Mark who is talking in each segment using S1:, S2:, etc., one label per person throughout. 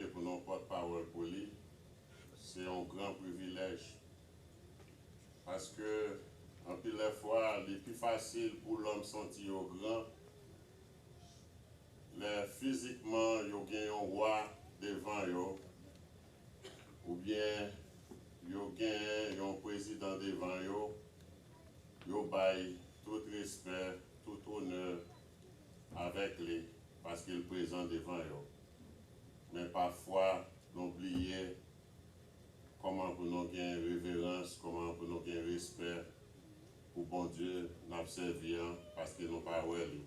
S1: E pou nou pòt pawòl pou li, se yon gran privilèj. Paske anpil lè fwa li pi fasil pou lòm santi yo gran lè fizikman yo gen yon wa devan yo oubyen yo gen yon prezidan devan yo, yo bay tout respè, tout onè avèk li paske l prezan devan yo. Men pafwa nou bliye kòman pou nou gen reverans, kòman pou nou gen respè pou Bondye n ap sèvi an paske nou pa wè li.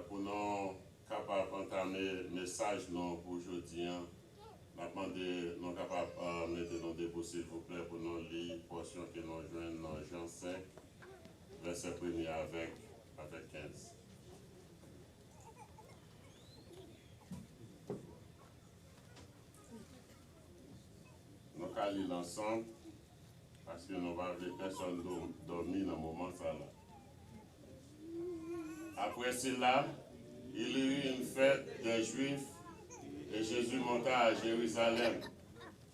S1: Pou nou kapab antame mesaj nou pou jodi an, n ap mande nou kapab mete nou debou silvouplè pou nou li pòsyon ke nou jwenn nan Jan 5, vèsè premye avèk 15. Nou ka li l ansanm, paske nou pa vle pèsòn dòmi nan moman sa la. Apre sila, il y eut une fête des Juifs, et Jésus monta à Jérusalem.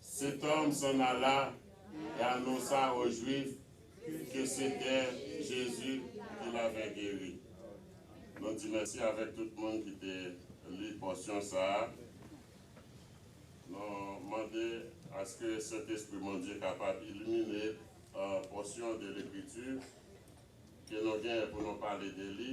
S1: Setanm san Ala e anonsa o Jwif ke sete Jezi ki l ave geri. Nou di mèsi avèk tout moun ki te li pòsyon sa a. Nou mande aske Sentespri Bondye kapab ilimine pòsyon de Lekriti ke nou genyen pou nou pale de li.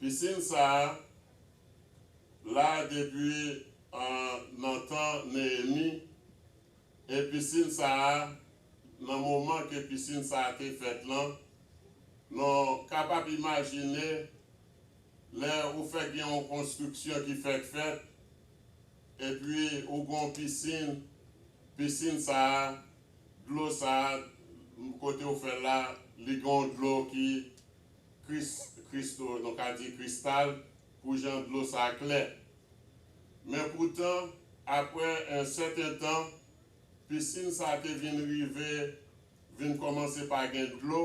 S1: Pisin sa a la depi nan tan Neyemi, e pisin sa a, nan moman ke pisin sa a te fèt lan, nou kapab imajine lè ou fèk gen yon konstriksyon ki fèk fèt, epi ou gen yon pisin, pisin sa a, dlo sa a kote ou fè l la, li gen yon dlo ki. Christo, nou ka di Kristal, pou jan dlo sa klè. Men poutan, apre yon sèten tan, pisin sa te vin rive vin kòmanse pa gen dlo,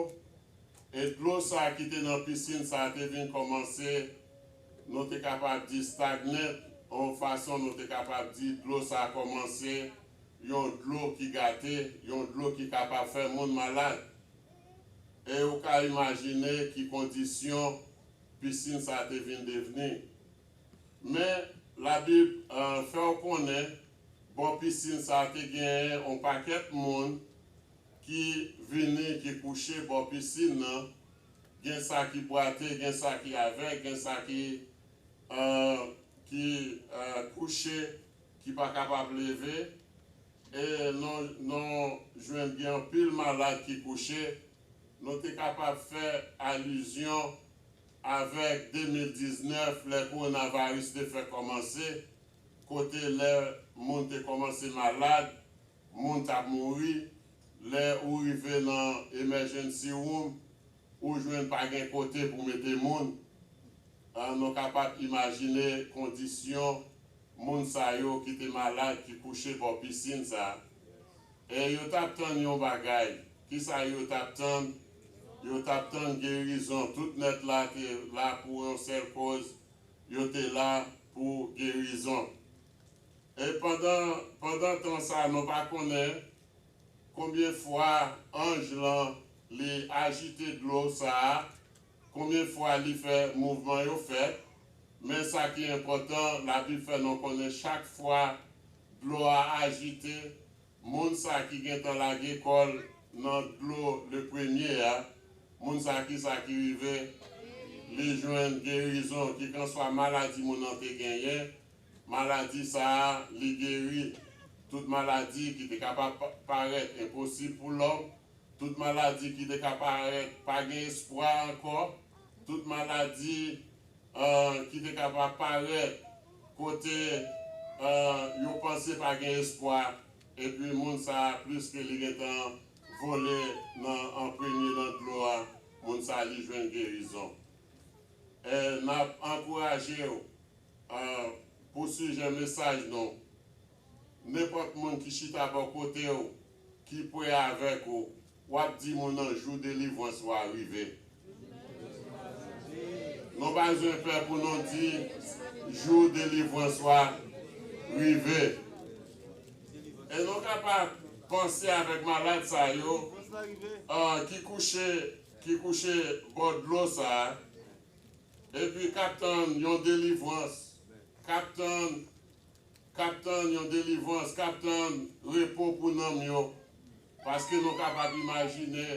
S1: e dlo sa ki te nan pisin sa te vin kòmanse, nou te kapab di stagnen, yon fason nou te kapab di dlo sa kòmanse yon dlo ki gate, yon dlo ki kapab fè moun malad. E ou ka imajine ki kondisyon pisin sa a te vin devni. Men, Labib fè w konnen bò pisin sa a te genyen yon pakèt moun ki vini, ki kouche bò pisin nan. Gen sa ki bwate, gen sa ki avèg, gen sa ki kouche ki pa kapab leve e nou nou jwenn gen anpil malad ki kouche, nou te kapab fè alizyon avèk 2019 lè koronavaris te fè kòmanse, kote lè moun te kòmanse malad, moun t ap mouri, lè ou rive nan emèjennsi woum, ou jwenn pa gen kote pou mete moun, nou kapab imajine kondisyon Moun sa yo ki te malad ki kouche bò pisin sa eh yo tap tann yon bagay kisa yo tap tann yo tap tann gerizon tout nèt la te la pou yon sèl koz yo te la pou gerizon eh pandan pandan tan sa nou pa konnen konbyen fwa anj lan li ajite dlo sa Konbyen fwa li fè mouvman yo fèt, men sa ki enpòtan Labib fè non konnen chak fwa dlo a ajite, moun sa ki gentan lage kò l nan dlo le premye a, moun sa ki sa ki rive? Li jwenn gerizon, kikanswa maladi moun nan te genyen, maladi sa a li geri. Tout maladi ki te kapab parèt enposib pou lòm, Tout maladi ki te ka parèt pa gen espwa ankò, tout maladi ki te ka pa parèt kote yo panse pa gen espwa, epi moun sa a plis ke li gen tan vole nan an premye nan dlo a, moun sa a li jwenn gerizon. E n ap ankouraje w pou sijè mesaj nou, nenpòt moun ki chita bò kote w, Ki pre avèk ou, w ap di moun nan jou delivrans ou a rive. Nou pa bzwen pè pou nou di jou delivrans ou a rive. E nou ka pa panse avèk malad sa yo ki kouche ki kouche bò dlo sa a epi k ap tann yon delivrans, k ap tann K ap tann yon delivrans, k ap tann repo pou nanm yo, paske nou kapab imajine,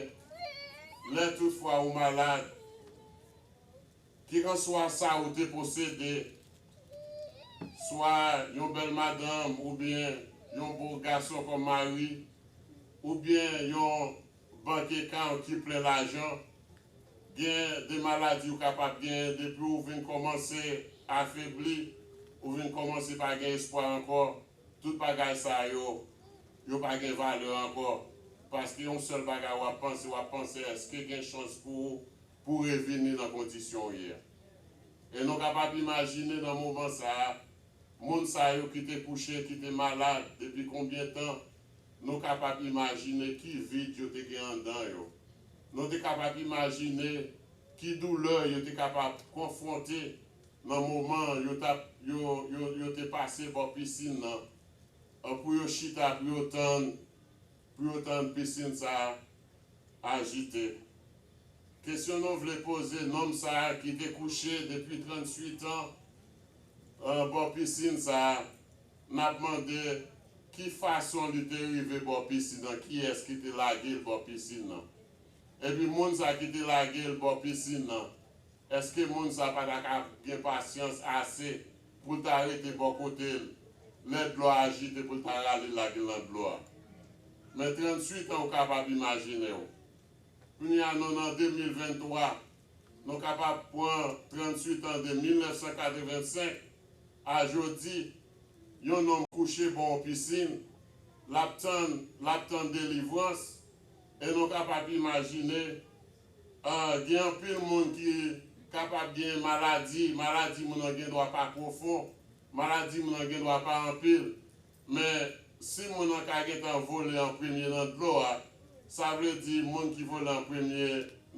S1: lè toutfwa ou malad, kikanswa sa ou te posede, swa yon bèl madanm oubyen yon bo gason kòm mari, oubyen yon Bank ekan w ki plen lajan. Gen de maladi ou kapab genyen depi w vin kòmanse afebli, ou vin kòmanse pa gen espwa ankò, tout bagay sa yo, yo pa gen valè ankò, paske yon sèl bagay w ap panse, w ap panse èske gen chans pou ou pou w revini nan kondisyon w ye a. E nou kapab imajine nan moman sa a, moun sa yo ki te kouche, ki te malad depi konbyen tan, Nou kapab imajine ki vid yo te gen anndan yo. Nou te kapab imajine ki doulè yo te kapab konfwonte nan moman yo t ap yo yo yo te pase bò pisin nan an pou yo chita pou yo tann pou yo tann pisin sa a ajite. Kesyon nou vle poze nonm sa a ki te kouche depi trannswitan an bò pisin sa a M ap mande ki fason li te rive bò pisin nan, kiyès ki te lage l bò pisin nan? Epi moun sa ki te lage l bò pisin nan, èske moun sa pa ta ka gen pasyans ase pou l ta rete bò kote l lè dlo a ajite pou l ta rale l lage l nan dlo a? Men transuitan ou kapab imajine w. Kounye a non an 2023, Nou kapab pran 38 an de 1985 a jodi, yon nonm kouche bò yon pisin, l ap tann, l ap tann delivrans, e nou kapab imajine, gen anpil moun ki kapab gen maladi, maladi moun nan gendwa pa pwofon, maladi moun nan gendwa pa anpil, Men, si moun nan ka gentan vole an premye nan dlo a, sa vle di moun ki vole an premye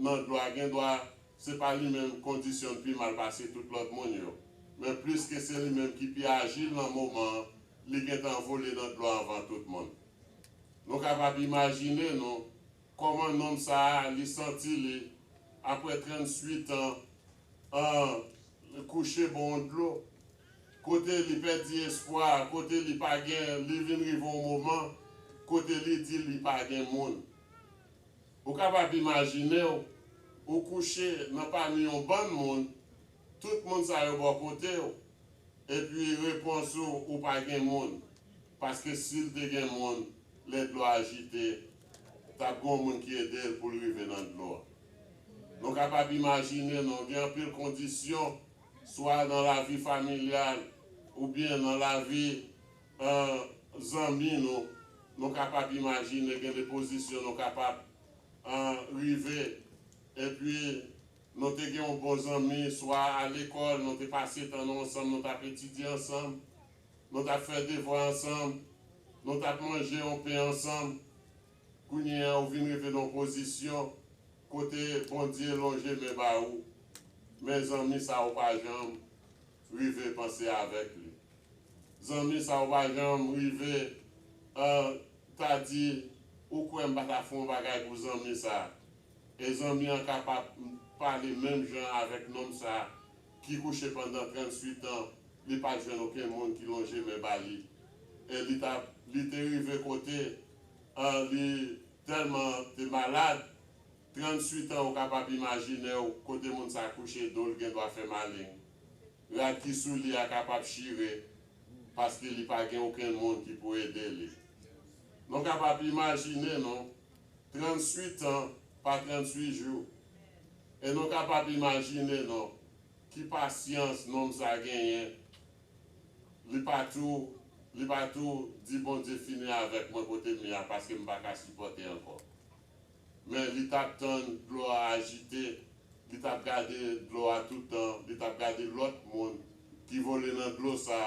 S1: nan dlo a gen dwa se pa li menm kondisyon n pi mal pase tout lòt moun yo. Men pliske se li menm ki pi ajil nan moman an, li gentan vole nan dlo a anvan tout moun. Nou kapab imajine nou kòman nonm sa a li santi li apre 38 an an kouche bò yon dlo. Kote li pèdi espwa, kote li pa gen, li vin rive yon moman kote li di li pa gen moun. Ou kapab imajine w, ou kouche nan pami yon bann moun, tout moun sa yo bò kote w, epi repons ou, ou pa gen moun. Paske si l te gen moun, lè dlo a ajite, t ap gen yon moun ki ede l pou l rive nan dlo a. Nou kapab imajine nou gen anpil kondisyon. swa nan lavi familyal oubyen nan lavi zanmi nou, nou kapab imajine gen de pozisyon nou kapab rive. Epi nou te gen yon bon zanmi, swa a lekòl, nou te pase tan nou ansanm, nou t ap etidye ansanm, nou t ap fè devwa ansanm, nou t ap manje yon pen ansanm. Kounye a ou vin rive nan yon pozisyon kote Bondye lonje men ba ou, men zanmi sa ou pa janm rive panse avèk li. Zanmi sa ou pa janm rive ta di ou kwè m pa ta fè yon bagay pou zanmi sa. E zanmi an kapab pale menm jan avèk nonm sa ki kouche pandan 38 an li pat jwenn okenn moun ki lonje men ba li. E li te rive kote. Li telman te malad. 38 ans ou kapab imajinew kote moun sa kouche dol gendwa fè maling. Rad ki sou li a kapab chire paske li pa gen okenn moun ki pou ede li. Non kapab imajine non. 38 ans pa 38 jou. E non kapab imajine non ki pasyans nonm sa genyen Li pa tou Li pa tou Di Bondye fini avèk mwen kote m ye a paske m pa ka sipòte ankò Men li t ap tann dlo a ajite Li t ap gade dlo a tout tan Li t ap gade lòt moun ki vole nan dlo sa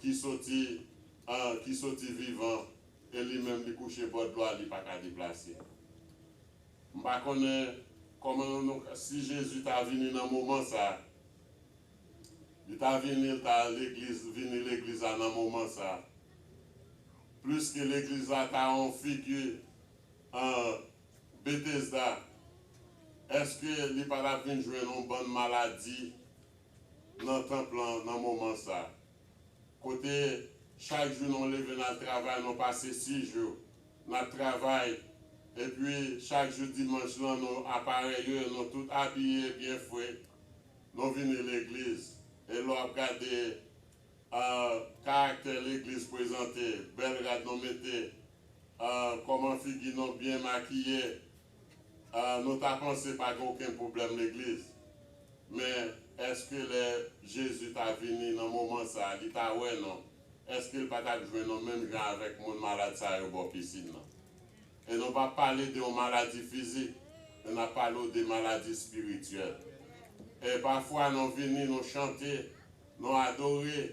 S1: ki soti an ki soti vivan e li menm li kouche bò dlo a li pa ka deplase M pa konnen kòman nou si Jezi ta vini nan moman sa Li ta vini, l ta al legliz, vini legliz la nan moman sa a. Plis ke legliz la ta yon figi an Betesda, èske li pa t ap vin jwenn yon bann maladi nan tanp lan nan moman sa a? Kote chak jou nou leve n al travay, nou pase sis jou n ap travay, epi chak jou dimanch lan nou aparèye, nou tout abiye byen fre, Nou vini legliz e lè w ap gade karaktè legliz prezante, bèl rad nou mete, kòman figi nou byen makiye, nou ta panse pa gen okenn pwoblèm legliz. Men, èske lè Jezi ta vini nan moman sa a, li ta wè nou? Èske l pa t ap jwenn nou menm jan avèk moun malad sa yo bò pisin nan? E nou pa pale de yon maladi fizik, men n ap pale w de maladi espirityèl. E pafwa nou vini, nou chante, nou adore,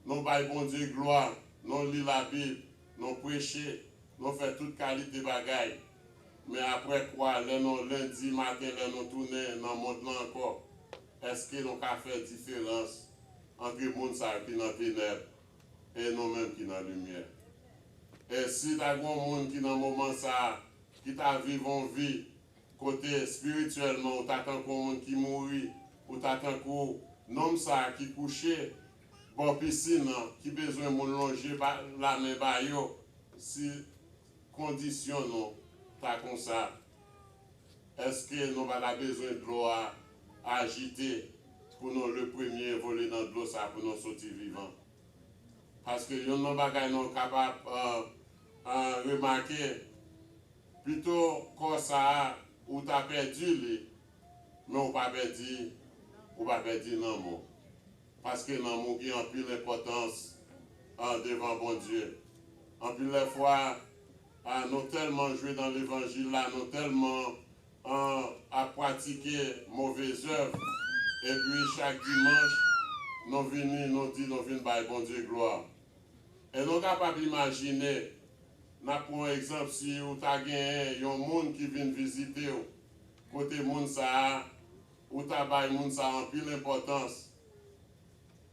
S1: nou bay Bondye glwa, nou li Labib, nou preche, nou fè tout kalite bagay. Men apre kwa, lè nou lendi maten lè nou tounen nan mond lan ankò, èske nou ka fè diferans antre moun sa yo ki nan tenèb E nou menm ki nan limyè? E si ta gen yon moun ki nan moman sa a ki ta viv yon vi kote espirityèlman ou ta tankou yon moun ki mouri, ou ta tankou nonm sa a ki kouche bò pisin an, ki bezwen moun lonje lamen ba yo, si kondisyon nou ta konsa, Eske nou pa ta bezwen dlo a ajite pou nou le premye vole nan dlo sa pou nou soti vivan? Paske yonn nan bagay nou kapab remake, pito kò sa a ou ta pèdi li, men ou pa pèdi, ou pa pèdi nanm ou. Paske nanm ou gen anpil enpòtans devan Bondye. Anpil lè fwa, Ah nou tèlman jwe nan levanjil la nou tèlman an ap pratike move zèv epi chak dimanch nou vini nou di nou vin bay Bondye glwa e nou kapab imajine nap pran yon egzanp si ou ta genyen yon moun ki vin vizitew kote moun sa a ou ta bay moun sa a anpil enpòtans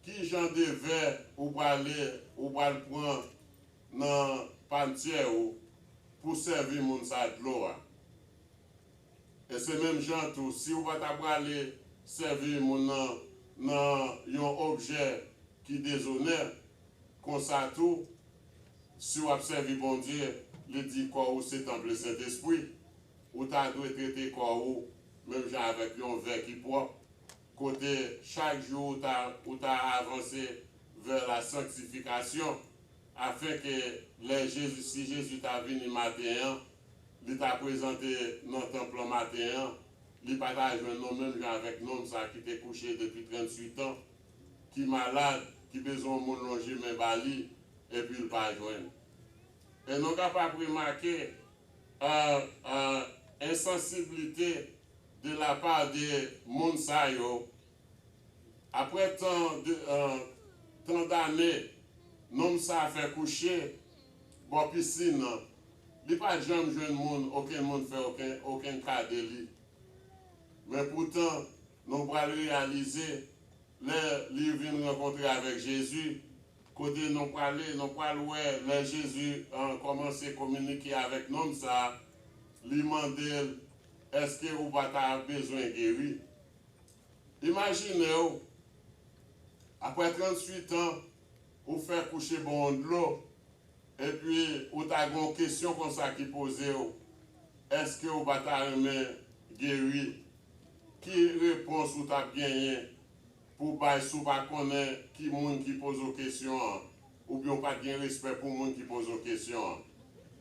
S1: kijan de vè ou prale ou pral pran nan pantyè ou pou sèvi moun sa a dlo a. E se menm jan an tou, si ou pa ta prale sèvi moun nan nan yon objè ki dezonè, konsa tou, si w ap sèvi Bondye, li di kò ou se tanp Lesentespri, ou ta dwe trete kò ou menm jan avèk yon vè ki pwòp. Kote chak jou ou ta ou ta avanse vers la sanctification, afin que lè Jésus, si Jésus ta vini maten an, li ta prezante nan tanp lan maten an, li pa ta jwenn nou menm jan avèk nonm sa ki te kouche depi 38 an, ki malad, ki bezwen yon moun lonje men ba li, epi l pa jwenn. E nou kapab remake, ah, ah, ensansiblite. de la part de moun sa yo aprè tan de tan dane nonm sa fè kouche bò piscine nan li pat janm jwenn moun okenn moun fè oken okenn ka de li men poutan nou pral reyalize lè li vin rankontre avèk Jezi kote nou prale nou pral wè lè Jezi kòmanse kominike avèk nonm sa li mandel Èske ou pa ta bezwen geri? Imajine w, apre 38 an, ou fè kouche ban w dlo, epi ou ta gen yon kesyon konsa ki poze w, Èske ou pa ta renmen geri? Ki repons ou t ap genyen pou w bay si w pa konnen ki moun ki poze w kesyon an? Oubyen w pat gen respè pou moun ki poze w kesyon an?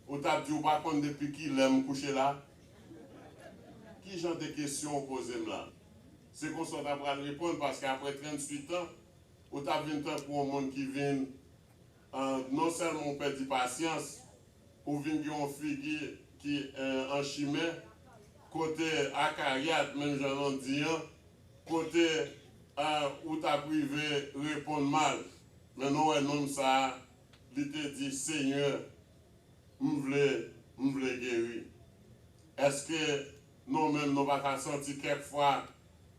S1: Ou tap di ou pa konn depi kilè m kouche la? Ki jan de kesyon ou poze m la? Se konsa w ta pral reponn paske aprè 38 an, ou tap vin tankou on moun ki vin en non sèlman ou pèdi pasyans, ou vin gen on figi ki en an chimè, kote Akariat menm jan Landy an, Kote ou tap rive reponn mal. Men nou wè nonm sa a li te di Senyè m vle m vle geri. Eske nou menm nou pa ta santi kèk fwa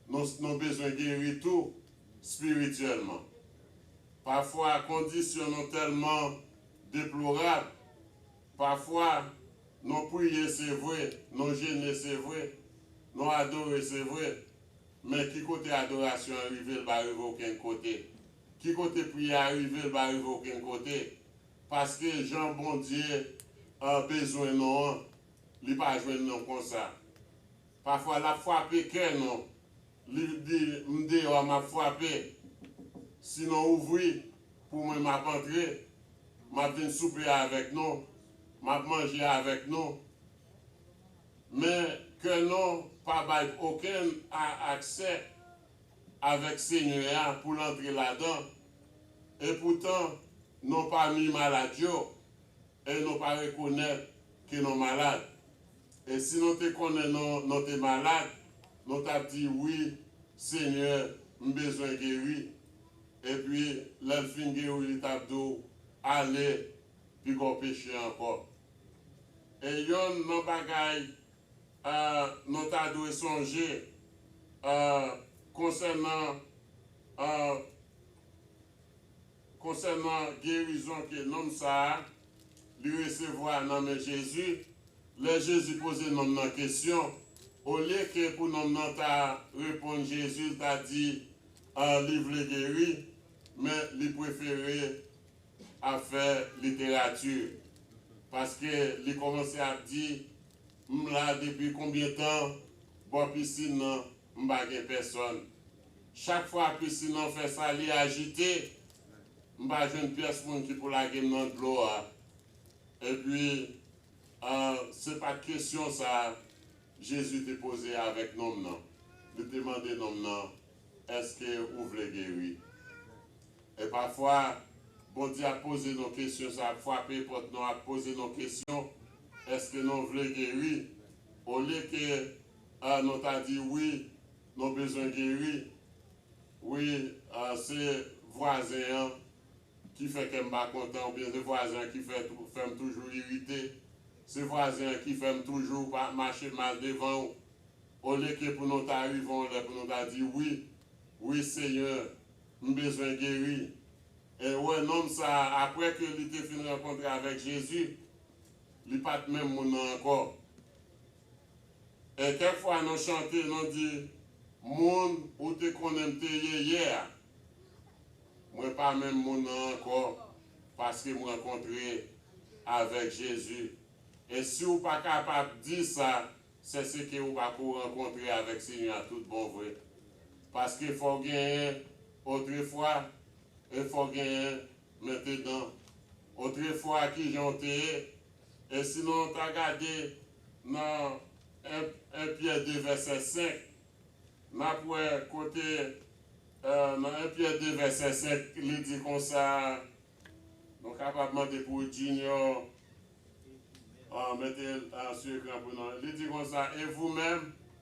S1: nou bezwen geri tou spirityèlman. Pafwa kondisyon nou tèlman deplorab. Pafwa, nou priye se vre, nou jene se vre, nou adore se vre, men ki kote adorasyon an rive l pa rive okenn kote, ki kote priyè a rive l pa rive okenn kote, paske jan Bondye bezwen nou an, li pa jwenn nou konsa. Pafwa l ap frape kè nou Li di, M deyò a m ap frape. Sinon ouvri pou mwen m ap antre, m ap vin soupe avèk nou, m ap manje avèk nou. Men kè nou pa bay okenn a aksè avèk Senyè a pou l antre ladan. Epoutan, nou pami malad yo, E non pa rekonèt ke non malad. E si non te konnen non non te malad, non tap di wi Senyè m bezwen geri. Epi lèl fin geri li tap di w ale pi gwo peche ankò. E yonn non bagay non ta dwe sonje konsènan konsènan gerizon ke nonm sa a li resevwa nan men Jezi, lè Jezi poze nonm nan kesyon, olye ke pou nonm nan ta reponn Jezi l ta di li vle geri, men li prefere ap fè literati, paske li kòmanse ap di, M la depi konbyen tan bò pisin nan? M pa gen pèsòn. Chak fwa pisin lan fè sa li ajite, m pa jwenn pyès moun ki pou lage m nan dlo a. Epi, se pa t kesyon sa a Jezi te poze avèk nonm nan. Li te mande nonm nan, Èske ou vle geri? E pafwa, Bondye ap poze nou kesyon sa a, ap frape pòt nou, ap poze nou kesyon, Èske nou vle geri? Olye ke ah nou ta di wi nou bezwen geri wi ah se vwazen an ki fè kèm pa kontan oubyen se vwazen an ki fè fèm toujou irite se vwazen an ki fèm toujou pa mache mal devanw olye ke pou nou ta rive yon lè pou nou ta di wi wi segnè m bezwen geri e ou wè nonm sa aprè ke li te fin rankontre avèk Jezi li pat menm moun nan ankò E kèk fwa nou chante, nou di, Moun ou te konnen m te ye yè a, mwen pa menm moun nan ankò paske m rankontre avèk Jezi. E si ou pa kapab di sa, sèseke ou pa ko rankontre avèk Senyè a tout bon vre. Paske fò w genyen otrefwa e fò w genyen Mete dan. Otrefwa ki jan w te ye? E si nou ta gade nan 1 1 Pyè 2 vèsè 5, n ap wè kote nan 1 Pyè 2 vèsè 5 li di konsa, nou kapab mande pou Junior mete l sou ekran pou nou, li di konsa, E vou menm?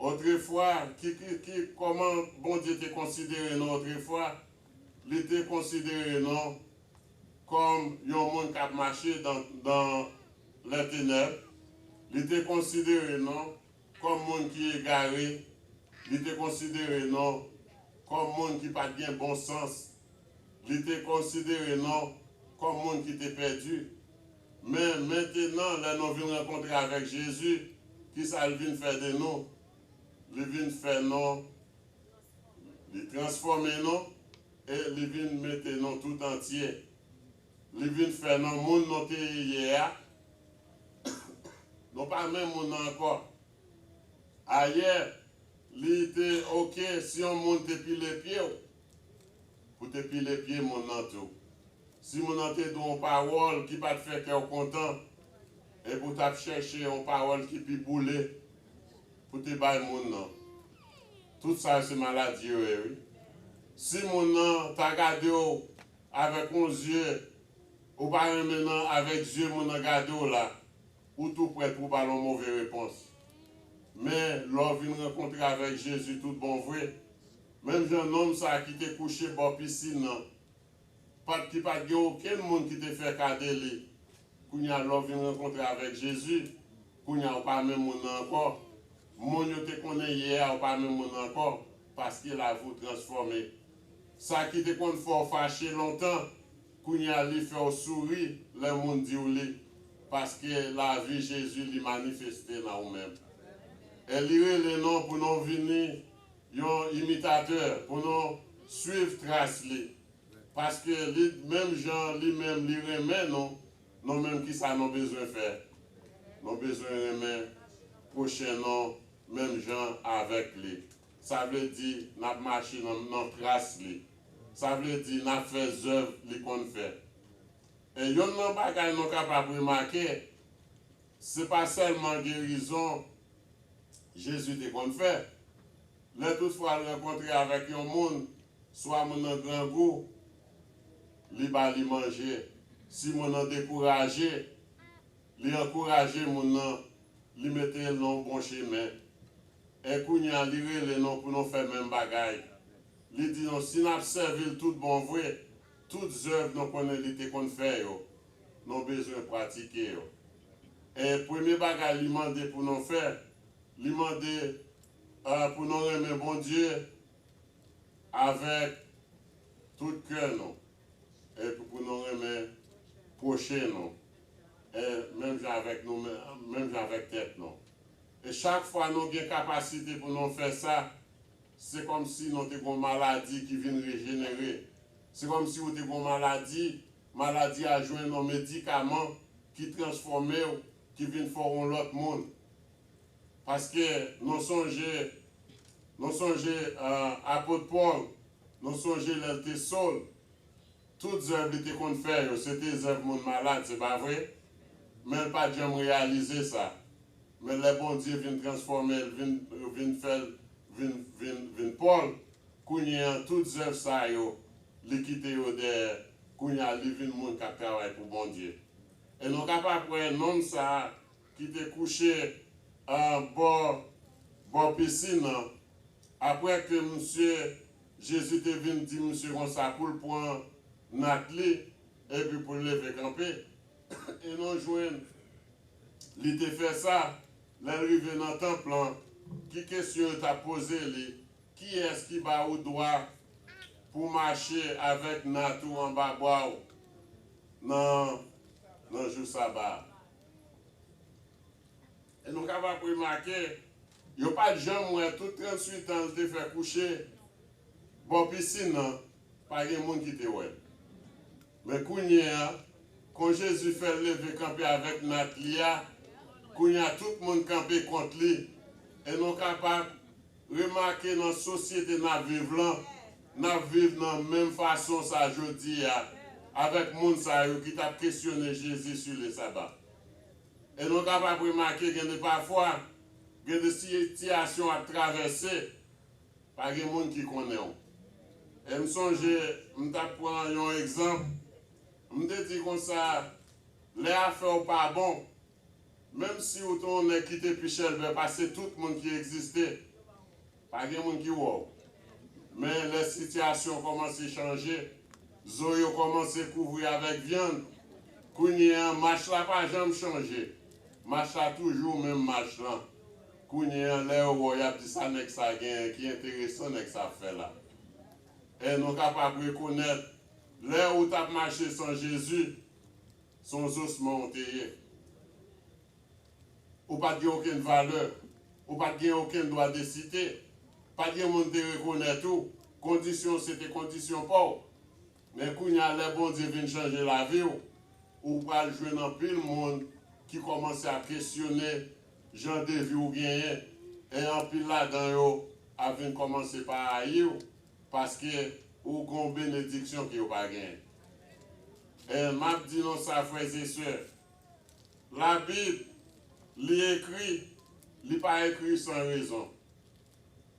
S1: Otrefwa, kikiki, kòman Bondye te konsidere nou otrefwa? Li te konsidere nou kòm yon moun k ap mache dan dan lè tenèb, li te konsidere nou kòm moun ki egare, li te konsidere nou kòm moun ki pa t gen bon sans, li te konsidere nou kòm moun ki te pèdi. Men, mentenan, lè nou vin rankontre avèk Jezi, ki sa L vin fè de nou? Li vin fè nou, Li transfòme nou, e Li vin mete nou toutantye. Li vin fè nou moun nou te ye a. Nou pa menm moun nan ankò. Ayè, li te ok si yon moun te pile pye ou. Pou te pile pye moun nan tou. Si moun nan te di w yon pawòl ki pa t fè kè w kontan, epi w t ap chèche yon pawòl ki pi boule pou te bay moun nan. Tout sa yo se maladi yo ye wi. Si moun nan ta gade w avèk yon zye ou pa renmen nan avèk zye moun nan gade w la, ou tou prèt pou w ba l yon move repons. Men, lè w vin rankontre avèk Jezi tout bon vre, Menm jan nonm sa ki te kouche bò pisin nan pat ki pat gen okenn moun ki te fè ka de li kounya lè w vin rankontre avèk Jezi kounya ou pa menm moun nan ankò moun yo te konnen yè a ou pa menm moun nan ankò paske lavi w transfòme sa ki te konn fè w fache lontan kounya li fè w souri lè moun di w li paske lavi Jezi li manifeste nan ou menm e li rele non pou non vini Yon imitatè pou nou swiv tras li, paske li menm jan li menm li renmen nou, nou menm kisa nou bezwen fè? Nou bezwen renmen pwochen nou menm jan avèk li. Sa vle di nap mache nan tras li. Sa vle di nap fè zèv li konn fè. E yonn nan bagay nou kapab remake, se pa sèlman gerizon Jezi te konn fè. Lè toutfwa l rankontre avèk yon moun, swa moun nan grangou, li ba li manje. Si moun nan dekouraje, li ankouraje moun nan, li mete l nan bon chemen. E kounye a li rele nou pou nou fè menm bagay. Li di nou si n ap sèvi l toutbonvre, tout zèv nou konnen li te konn fè yo, nou bezwen pratike yo. E premye bagay li mande pou nou fè, li mande pou nou renmen Bondye avèk tout kè nou epi pou nou renmen pwochen nou menm jan avèk nou menm jan avèk tèt nou. E chak fwa nou gen kapasite pou nou fè sa, se kòmsi nou te gen yon maladi ki vin rejenere. Se kòmsi ou te gen yon maladi Maladi a jwenn yon medikaman ki transfòme w, ki vin fè w yon lòt moun. Paske nou sonje, nou sonje Apot Pòl, nou sonje lè l te Sol, tout zèv li te konn fè yo, se te zèv moun malad, se pa vre? Men l pa t janm reyalize sa. Men lè Bondye vin transfòme l, vin fè l vin Pòl, Kounye an, tout zèv sa yo, li kite yo dèyè, kounye a li vin moun k ap travay pou Bondye. E nou kapab wè nonm sa a ki te kouche bò bò pisin nan, apre ke misye, Jezi te vin di misye konsa pou l pran nat li epi pou l leve kanpe. E nou jwenn li te fè sa, lè l rive nan tanp lan, ki kesyon yo t ap poze li, Kiyès ki ba ou dwa pou mache avèk nat ou anba bwa ou nan nan jou Saba a? E nou kapab remake, yo pa t janm wè tout trantsuitan l te fè kouche bò pisin nan, pa gen moun ki te wè l. Men kounye a, kon Jezi fè l leve kanpe avèk nat li a, kounye a tout moun kanpe kont li, e nou kapab. Remake nan sosyete nap viv lan, nap viv nan menm fason sa jodia avèk moun sa yo ki tap kesyone Jezi su le saba. E nou kapab remake gen de pafwa, gen de siytiyasyon wap travèse, pa gen moun ki konnenw. E m sonje m tap pran yon egzanp, m te di konsa, lè afèw pa bon, Menm si ou te yon nèg ki te pi chèlbè pase tout moun ki egziste, pa gen moun ki wè w. Men, lè sitiyasyon kòmanse chanje, zo yo kòmanse kouvri avèk vyann. Kounye a, mach la pa janm chanje. Mach la toujou menm mach lan. Kounye a, lè yo wè w, y ap di, 'Sa nèg sa a genyen? Ki enteresan nèg sa a fè la? Èn ou kapab rekonèt lè ou t ap mache san Jezi? Son zosman ou te ye. Ou pat gen okenn valè. Ou pat gen okenn dwa de site. Pat gen moun te rekonèt ou. Kondisyon w se te kondisyon pa w. Men kounya lè Bondye vin chanje lavi w, ou pral jwenn anpil moun ki kòmanse ap kesyone jan de vi w genyen e anpil ladan yo ap vin kòmanse pa rayi w. Paske ou gon benediksyon ke yo pa gen. Ehh map di nou sa frères et sœurs la bib li ekri li pa ekri san rezon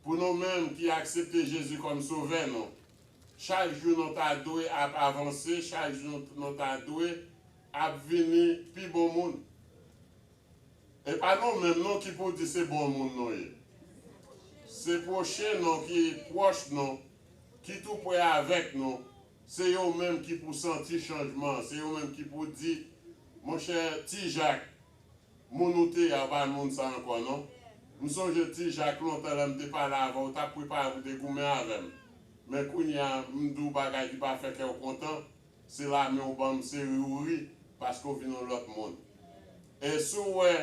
S1: pou nou menm ki aksepte Jezi kòm sovè nou chak jou nou ta dwe ap avanse chak jou nou ta dwe ap vini pi bon moun. Epa nou menm non ki pou di se bon moun nou ye. Se pwochen nou ki pwòch nou, ki tou pre avèk nou, se yo menm ki pou santi chanjman an, se yo menm ki pou di, monchè Ti Jak, moun ou te ye a ou pa moun sa ankò non. M sonje Ti Jak lontan lè m te pale avè w, ou t ap prepare pou te goumen avè m. Men kounye a m di w bagay ki pa fè kè w kontan, Se lame ou banm se ri ou ri paske ou vin yon lòt moun e si w wè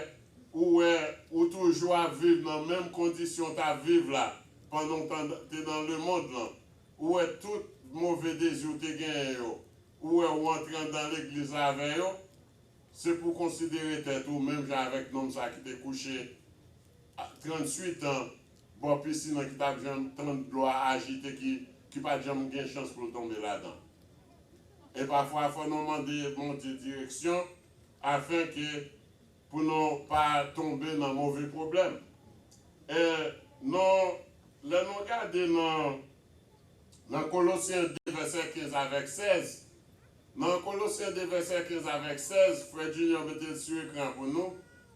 S1: ou wè ou toujou ap viv nan menm kondisyon w t ap viv la pandan w te nan lemond lan ou wè tout move dezi w te genyen yo ou wè ou antre anndan legliz la avè yo se pou w konsidere tèt ou menm jan avèk nonm sa ki te kouche 38 an bò pisin an ki pa t janm tann dlo a ajite ki pa t janm gen chans pou l tonbe ladan. E pafwa fò nou mande Bondye direksyon afen ke pou nou pa tonbe nan move pwoblèm. E nou lè nou gade nan nan Kolosyen 2 vèsè 15 avèk 16, nan Kolosyen 2 vèsè 15 avèk 16, frè Junior mete l sou ekran pou nou,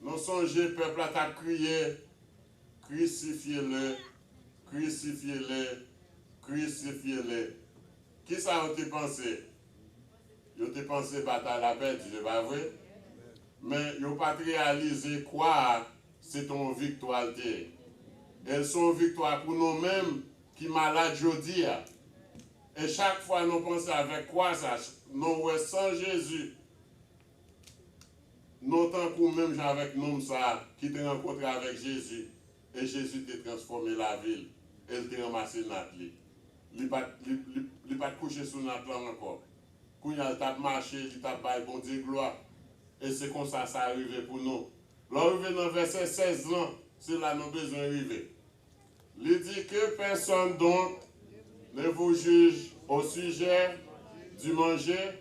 S1: Nou sonje pèp la tap kriye krisifye le, krisifye le, krisifye le. Kisa yo te panse? Yo te panse batay la pèdi se pa vre? Men yo pat reyalize kwa a se te yon viktwa l te ye. E l se yon viktwa pou nou menm ki malad jodi a. E chak fwa nou panse avèk kwa sa, nou wè san Jezi Non tankou menm jan avèk nonm sa a ki te rankontre avèk Jezi, e Jezi te transfòme lavi l, e l te ranmase nat li. Li pa t li pa t kouche sou nat lan ankò. Kounye a, l t ap mache, li t ap bay Bondye glwa. E se konsa sa rive pou nou. Lè w rive nan vèsè 16 lan, se la nou bezwen rive. Li di ke pèsòn donk ne vous juge au sujet du manger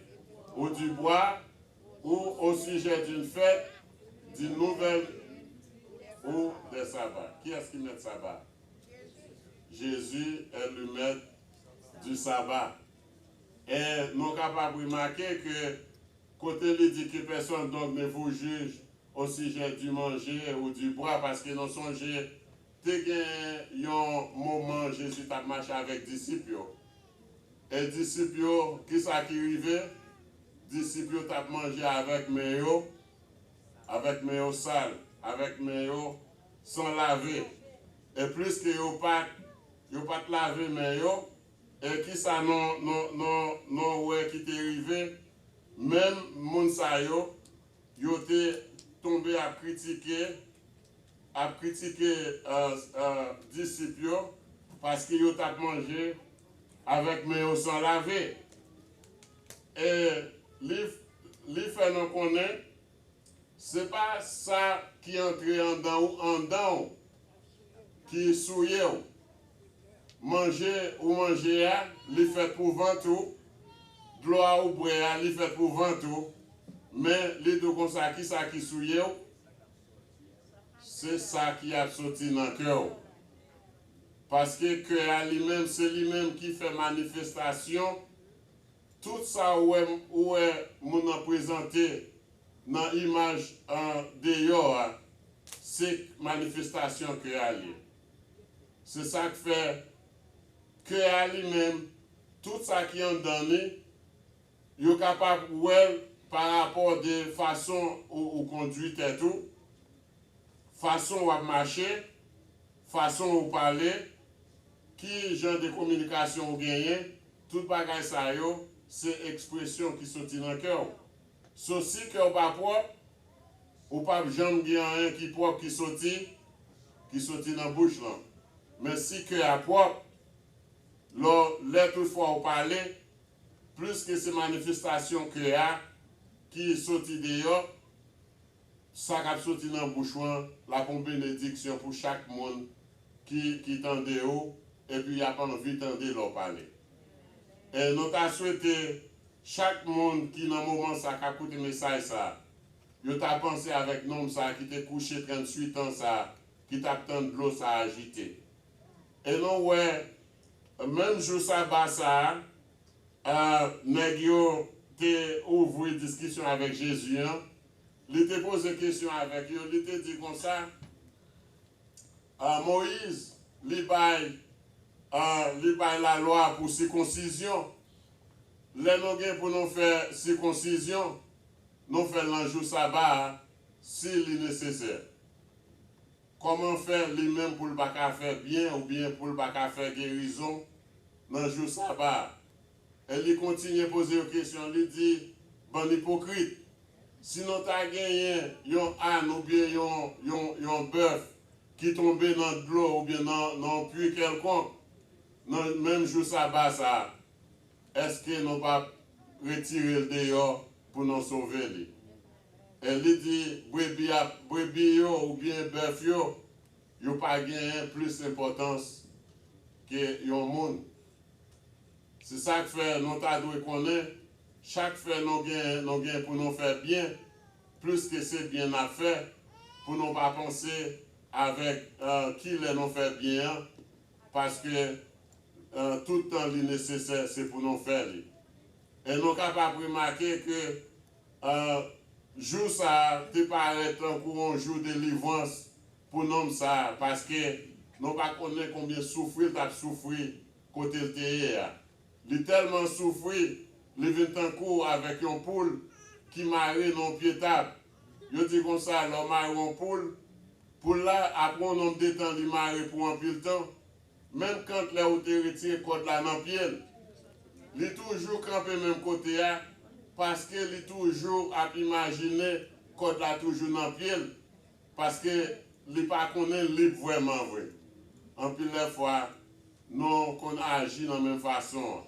S1: ou du boire ou au sujet d'une fête, d'une nouvelle ou des sabbats. Kiyès ki mèt saba? Jésus est le maître du sabbat. E nou kapab remake ke kote li di ki pèsonn dog ne vous juge au sujet du manger ou du boire paske nou sonje te gen yon moman Jezi t ap mache avèk disip yo e disip yo ki sa ki rive disip yo t ap manje avèk men yo avèk men yo sal avèk men yo san lave e pliske yo pa t yo pa t lave men yo E kisa nou nou nou nou wè ki te rive menm moun sa yo, yo te tonbe ap kritike ap kritike disip yo paske yo tap manje avèk men yo san lave. E li li fè nou konnen Se pa sa ki antre andan ou andan w ki souye w. Manje ou manje a, li fèt pou vant ou, dlo a ou bwè a, li fèt pou vant ou, men li dou konsa ki sa ki souye w? Se sa ki ap soti nan kè w. Paske kè a li menm se li menm ki fè manifestasyon Tout sa ou wè ou wè moun nan prezante nan imaj an deyò a se k manifestasyon kè a l ye. Se sa k fè kè a li menm, tout sa ki anndan li, yo kapab wè l pa rapò de fason ou ou kondui tèt ou, fason w ap mache, fason ou pale, Ki jan de kominikasyon ou genyen? Tout bagay sa yo se ekspresyon ki soti nan kè w. So si kè w pa pwòp, ou p ap janm gen anyen ki pwòp ki soti ki soti nan bouch lan. Men si kè a pwòp, lò lè tout fwa ou pale, pliske se manifestasyon kè a ki soti deyò, Sa kap soti nan bouch ou an la pou benediksyon pou chak moun ki ki tande ou epi yap anvi tande lè w pale. E nou ta swete chak moun ki nan moman sa kap koute mesaj sa yo ta panse avèk nonm sa ki te kouche 38 an sa ki tap tann dlo sa ajite. E nou wè menm jou saba sa a nèg yo te ouvri diskisyon avèk Jezi an Li te poze kesyon avèk yo, li te di konsa, Moyiz, li bay, li bay lalwa pou sikonsizyon. Lè nou gen pou nou fè sikonsizyon, nou fè l nan jou saba a, si li nesesè. Kòman fè li menm pou l pa ka fè byen oubyen pou l pa ka fè gerizon nan jou saba a? Eli kontinye poze yo kesyon, li di, Bann ipokrit! Si nou ta genyen yon àn oubyen yon bèf ki tonbe nan dlo oubyen nan yon pui kèlkonk nan menm jou saba sa a, èske nou pap retire l deyò pou nou sove li? Eli di, Brebi yo oubyen bèf yo, yo pa genyen plis enpòtans ke yon moun. Se sa k fè nou ta dwe konnen chak fè nou gen nou gen pou nou fè byen plis ke se byen n ap fè, pou nou pa panse avèk ki lè nou fè byen an paske tout tan li nesesè se pou nou fè li. E nou kapab remake ke jou sa a te parèt tankou yon jou delivrans pou nonm sa a paske nou pa konnen konbyen soufri l t ap soufri Kote l te ye a. Li tèlman soufri, li vin tankou avèk yon poul ki mare nan yon pye tab. Yo di konsa, lè w mare yon poul, poul la, apre yon nonb de tan, li mare pou anpil tan, menm kant lè ou te retire kòd la nan pye l, li toujou kanpe menm kote a, paske li toujou ap imajine kòd la toujou nan pye l. Paske li pa konnen lib vrèman vre. Anpil lè fwa, nou konn aji nan menm fason an.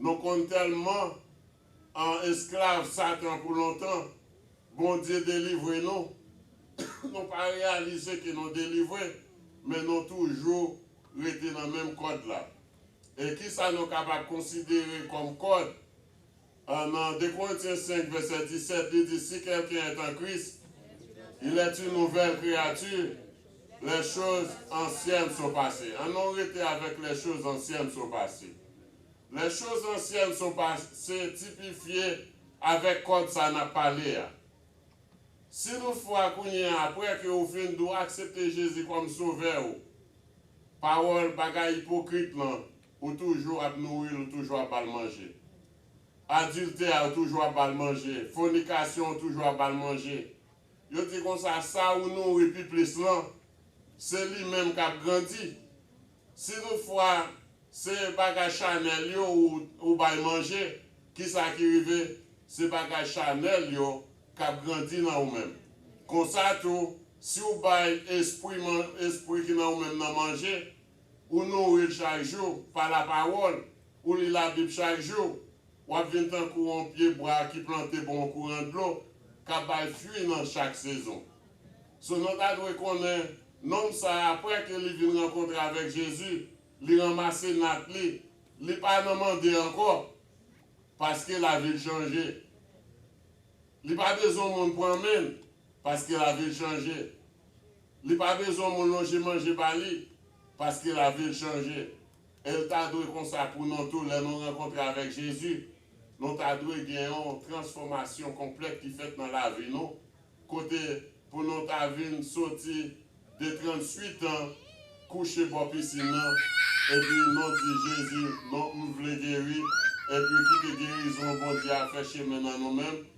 S1: Nou konn tèlman an esklav Satan pou lontan, Bondye delivre nou, nou pa reyalize ke nou delivre, men nou toujou rete nan menm kòd la. E kisa nou kapab konsidere kòm kòd? A Nan 2 Korentyen 5, vèsè 17, li di, Si kèlken èt an Kris, il èt yn nouvèl kreyati, lè choz ansyèn so pase. An nou rete avèk lè choz ansyèn so pase. Lè choz ansyèn so pase tipifye avèk kòd sa n ap pale a. Si tout fwa kounye a apre ke ou fin di w aksepte Jezi kòm Sovè ou, pawòl bagay ipokrit lan Ou toujou ap nouril ou toujou ap bal manje. Adiltè ou toujou ap bal manje. Fonikasyon ou toujou ap bal manje. Yo di konsa sa ou nouri pi plis lan se li menm kap grandi. Si tout fwa se bagay chanèl yo ou bay manje kisa ki rive se bagay chanèl yo kap grandi nan ou menm. Konsa tou si ou bay espri ki nan ou menm nan manje. Onore chak jou pa lapawòl ou li Labib chak jou, w ap vin tankou yon pye bwa ki plante bò yon kouran dlo k ap bay fwi nan chak sezon. Sonon ta dwe konnen nonm sa a apre ke li vin rankontre avèk Jezi, li ranmase nat li, li pa nan mande ankò paske lavi l chanje. Li pa bezwen moun pran men l paske lavi l chanje. Li pa bezwen moun lonje manje ba li paske lavi l chanje. E l ta dwe konsa pou nou tou lè nou rankontre avèk Jezi. Nou ta dwe gen yon transfòmasyon konplèt ki fèt nan lavi nou kote pou nou ta vin soti de 38 an kouche bò pisin nan epi nou di Jezi non m vle geri epi kite gerizon Bondye a fè chemen nan nou menm